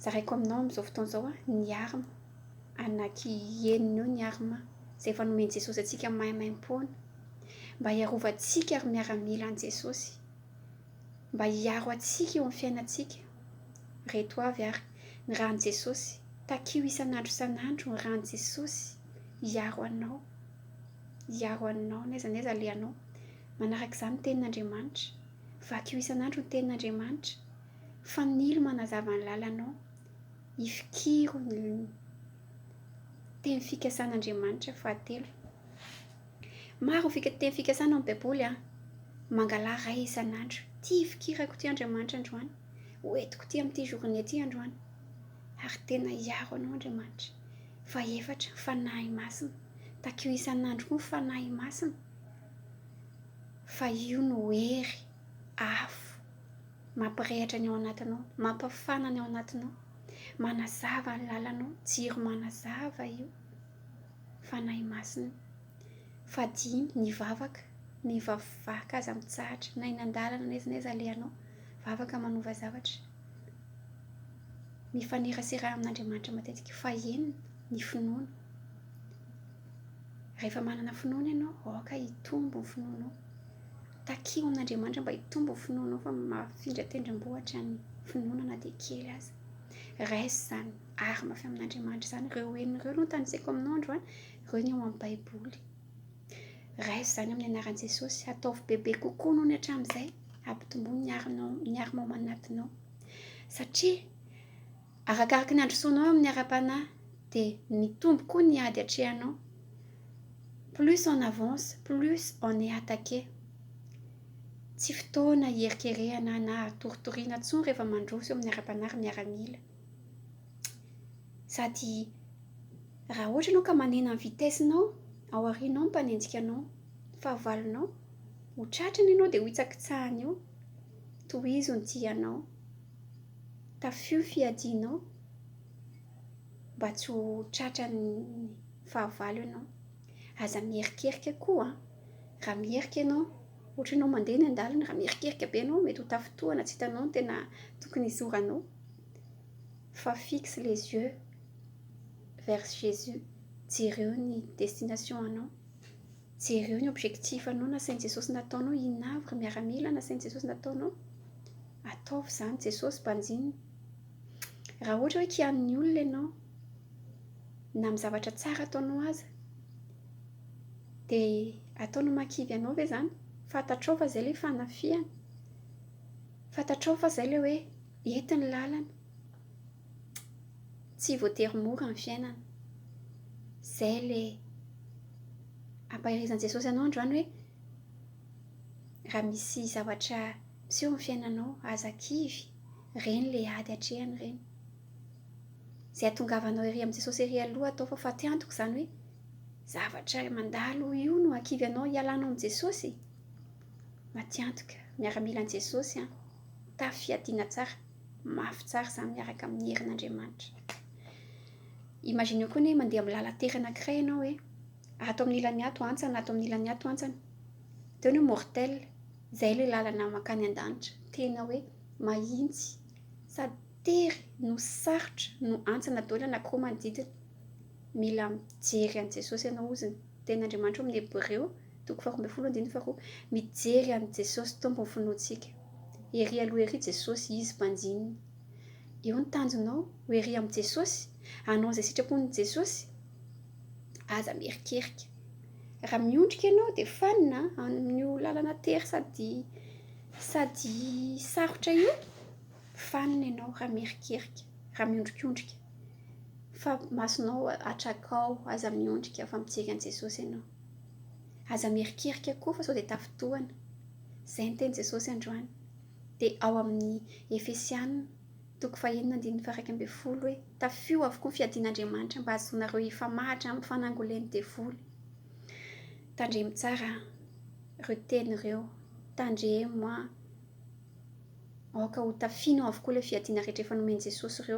Zaraiko aminao amin'izao fotoana izao ny arma. Anaky henony eo ny arma izay efa nomen'i Jesosy antsika maimaimpoana, mba hiarovantsika ry miaramila an'i Jesosy, mba hiaro antsika eo amin'ny fiainantsika. Ireto avy ary ny ran'i Jesosy, takio isan'andro isan'andro ny ran'i Jesosy hiaro anao, hiaro anao n'aiza n'aiza alehanao. Manaraka izany ny tenin'Andriamanitra, vakio isan'andro ny tenin'Andriamanitra. Fanilo manazava ny lalanao, ifikiro ny teny fikasan' Andriamanitra fahatelo. Maro ny teny fikasana ao amin'ny Baiboly. Mangalaha ray isan'andro, ity ifikirako ity Andriamanitra androany, ho entiko ity amin'ity journée ity androany, ary tena hiaro anao Andriamanitra. Fahefatra, ny Fanahy Masina. Takio isan'andro koa ny Fanahy Masina fa io no hery avo. Mampirehatra ny ao anatinao. Mampafana ny ao anatinao. Manazava ny lalanao. Jiro manazava io. Fanahy Masina. Fadiany ny vavaka. Ny vavaka aza mitsahatra. Na eny an-dalana na aiza na aiza alehanao. Vavaka manova zavatra. Mifanerasera amin'Andriamanitra matetika. Fahenina ny finoana. Rehefa manana finoana ianao, aoka hitombo ny finoanao. Takio an'Andriamanitra mba hitombo ny finoanao fa mahafindra tendrombohitra ny finoana na dia kely aza. Raiso izany, ary mafy amin'Andriamanitra izany. Ireo enina ireo no notanisaiko aminao androany, ireo ny ao amin'ny Baiboly. Raiso izany amin'ny anaran'i Jesosy, ataovy bebe kokoa noho ny hatramin'izay, hampitomboy ny harinao, ny armao ao anatinao, satria. Arakaraky ny handrosoanao amin'ny ara-panahy dia mitombo koa ny ady atrehanao. Plus on avance, plus on est attaqué. Tsy fotoana hierikerehana na hatoritoriana intsony rehefa mandroso eo amin'ny ara-panahy ry miaramila. Sady raha ohatra ianao ka manena ny vitesse-nao, ao aorianao ny mpanenjika anao, ny fahavalonao, ho tratrany ianao dia ho hitsakitsahany eo. Tohizo ny tianao. Tafio fiadianao mba tsy ho tratran'ny fahavalo ianao. Aza miherikerika koa an! Raha miherika ianao, ohatra ianao mandeha eny an-dalana, raha miherikerika be ianao mety ho tafintohina tsy hitanao ny tena tokony hizoranao. Fa fixe les yeux vers Jesus, jereo ny destination anao. Jereo ny objectif anao nasain'i Jesosy nataonao hoe inona avy ry miaramila nasain'i Jesosy nataonao? Ataovy izany Jesosy banjinina. Raha ohatra hoe kianin'ny olona ianao na amin'ny zavatra tsara ataonao aza dia ataony ho makivy anao ve izany? Fantatrao fa izay ilay fanafihana? Fantatrao fa izay ilay hoe ety ny lalana? Tsy voatery mora ny fiainana. Izay ilay ampaherizan'i Jesosy anao androany hoe, raha misy zavatra miseho amin'ny fiainanao, aza kivy, ireny ilay ady atrehany ireny. Izay hatongavanao ery amin'i Jesosy ery aloha atao fa fatiantoka izany hoe, zavatra mandalo io no hakivy anao hialanao amin'i Jesosy? Matiantoka, miaramilan'i Jesosy an, mitafy fiadiana tsara. Mafy tsara izany miaraka amin'ny herin'Andriamanitra. Imagineo koa ny hoe mandeha amin'ny lalan-tery anankiray ianao hoe ato amin'ny ilany ato antsana, ato amin'ny ilany ato antsana. Dia hoy ny hoe mortel, izay ilay lalana mankany an-danitra. Tena hoe mahitsy sady tery no sarotra no antsana daholo anankiroa manodidina. Mila mijery an'i Jesosy ianao hozy. Tenin'Andriamanitra ao amin'ny Hebreo, toko faharoa ambin'ny folo andininy faharoa. Mijery an'i Jesosy Tompo ny finoantsika. Ery aloha ery Jesosy, Izy mpanjinina. Eo ny tanjonao, ho ery amin'i Jesosy, hanao izay sitrapon'i Jesosy. Aza miherikerika. Raha miondrika ianao dia fanina amin'io lalana tery sady sady sarotra io, fanina ianao raha miherikerika, raha miondrikondrika. Fa masonao atrakao, aza miondrika fa mijery an'i Jesosy ianao. Aza mierikerika koa fa sao dia tafintohana. Izay ny tenin'i Jesosy androany. Dia ao amin'ny Efesiana toko fahenina andininy faha-iraika ambin'ny folo hoe, Tafio avokoa ny fiadian'Andriamanitra mba hahazoanareo hifamahatra amin'ny fanangolen'ny devoly. Tandremo tsara ireo teny ireo. Tandremo an! Aoka hotafino avokoa ilay fiadiana rehetra efa nomen'i Jesosy ireo.